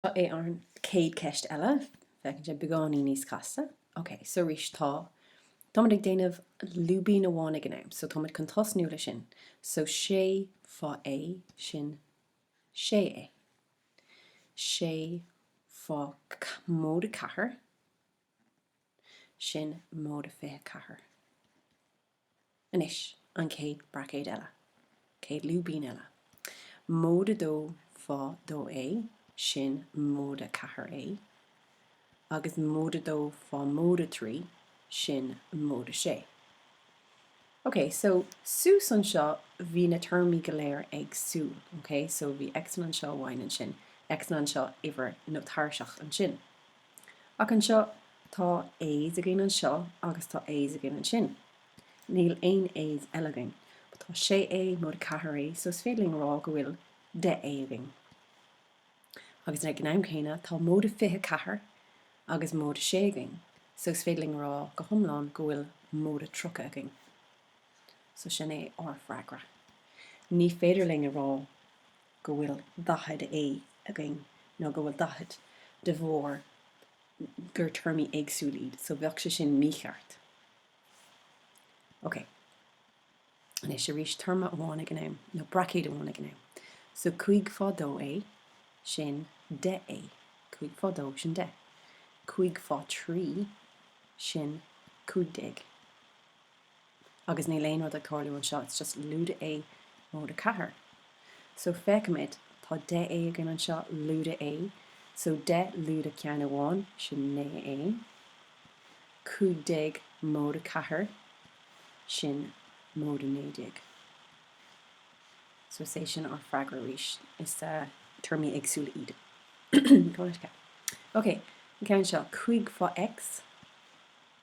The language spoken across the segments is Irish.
Seo é an chéad cheist eile. Feiceann sé beagáinín níos casta. Ok, so arís, tá, táimid ag déanamh lúibín amháin ag an am, so táimid chun tosnú le sin. So sé fá A sin sé A. Sé fá móide ceathair sin móide fiche ceathair. Anois an chéad braicéad eile, chéad lúibín eile. Móide dó fá dó A, sin móide ceathair A, agus móide dó fá móide trí, sin móide sé. OK, so, suas anseo bhí na téarmaí go léir éagsúil, OK, so bhí x-anna anseo, y-anna ansin, x-anna anseo, uimhir nó tairseach ansin. Ach anseo, tá A's againn anseo agus tá A's againn ansin. Níl aon A's eile againn. But tá sé A móide ceathair A, so is féidir linn a rá go bhfuil deich A againn. Agus ag an am céanna, tá móide fiche ceathair agus móide sé againn, so is féidir linn a rá go hiomlán go bhfuil móide tríocha againn. So sin é ár bhfreagra. Ní féidir linn a rá. go bhfuil 40 A againn nó go bhfuil 40 de bharr gur téarmaí éagsúla iad so bheadh sé sin mícheart. Ok. Anois arís téarma amháin ag an am nó braicéad amháin ag an am. So cúig fá dó A sin deich A. Cúig fá dó sin deich. Cúig fá trí sin cúig déag. agus níl aon rud ag tarlú anseo, it's just lúide A, móide 4. So feicimid, tá 10 A againn anseo, lúide A, so 10 lúide ceann amháin, sin 9 A, 15 móide 4, sin móide 19. So is é sin ár freagra arís, is téarmaí éagsúla iad. Ok, an ceann seo, 5 fá X.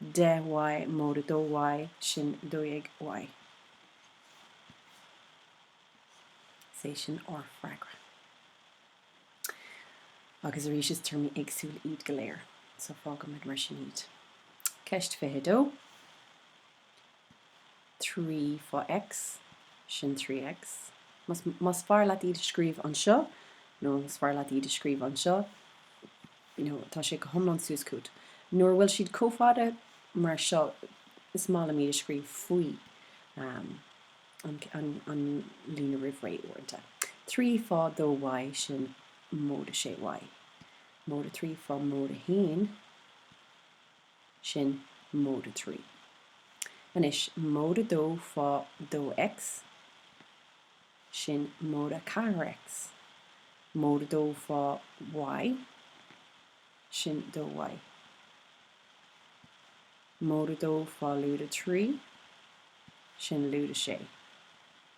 10 Y móide 2 Y sin 12 Y. Is é sin ár bhfreagra. Agus arís is téarmaí éagsúla iad go léir, so fágaimid mar sin iad. Ceist 22. 3 fá X, sin 3 X. Más, más fearr leat iad a scríobh anseo, nó is fearr leat iad a scríobh anseo, you know, tá sé go hiomlán suas chugat. Nuair a bhfuil siad chomh fada mar seo, is maith liom iad a scríobh faoi, um, an, an, an líne roimh ré, uaireanta. 3 fá 2 Y, sin móide sé Y. Móide trí fá móide a haon. sin Mode a Trí. Anois, Mode a Dó fá Dó X, sin Mode a Ceathair X. Mode a Dó fá Y, sin Dó Y. Mode a Dó fá Lúd a Trí, sin Lúd a Sé.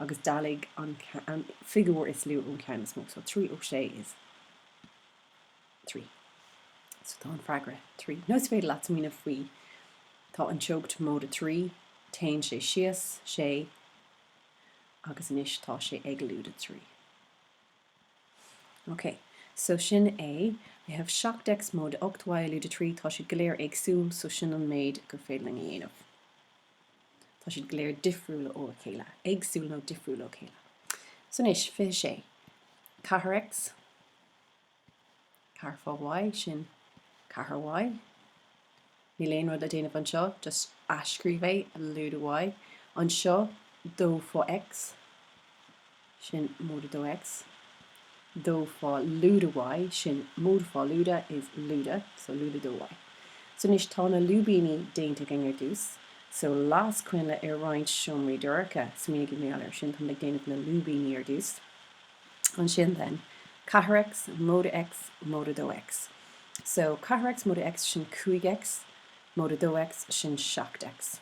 agus dealaigh an figiúr is lú ón cheann is mó so, trí ó sé is trí. So tá an freagra trí. Nó is féidir leat smaoineamh faoi, tá an teocht móide trí, téann sé síos sé, agus anois tá sé ag lúide trí. Ok, so sin é, we have 7 X móide 8 Y lúide trí, tá siad go léir éagsúil, so sin an méid gur féidir linn a dhéanamh. Tá siad go léir difriúil óna chéile, éagsúil nó difriúil ó chéile. So anois, fiche sé. Ceathair X. Ceathair fá Y, sin ceathair Y. Níl aon rud le déanamh anseo, just athscríobh é, lúide Y. Anseo, dó fá X. sin móide dó X, dó fá lúide Y, sin móide fá lúide is lúide, so lúide dó Y. So anois tá na lúibíní déanta againn ar dtús, so las coinnle ar roinnt seomraí dorcha, smaoinigí air sin, táimid ag déanamh na lúibíní ar dtús. Ansin then, 4X, móide X, móide dó X. So 4X, móide X, sin 5X, móide dó X, sin 7X.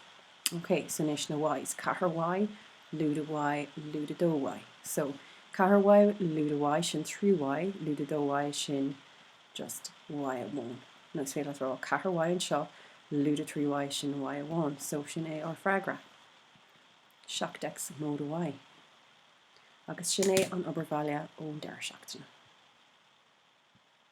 OK, so anois na Ys. Ceathair Y, lúide Y, lúide dó Y. So, ceathair Y, lúide Y, sin trí Y, lúide dó Y, sin just Y amháin. Nó is féidir leat rá, ceathair Y anseo, lúide trí Y, sin Y amháin. So, sin é ár bhfreagra. 7 X móide Y. Agus sin é an obair bhaile ón deireadh seachtaine.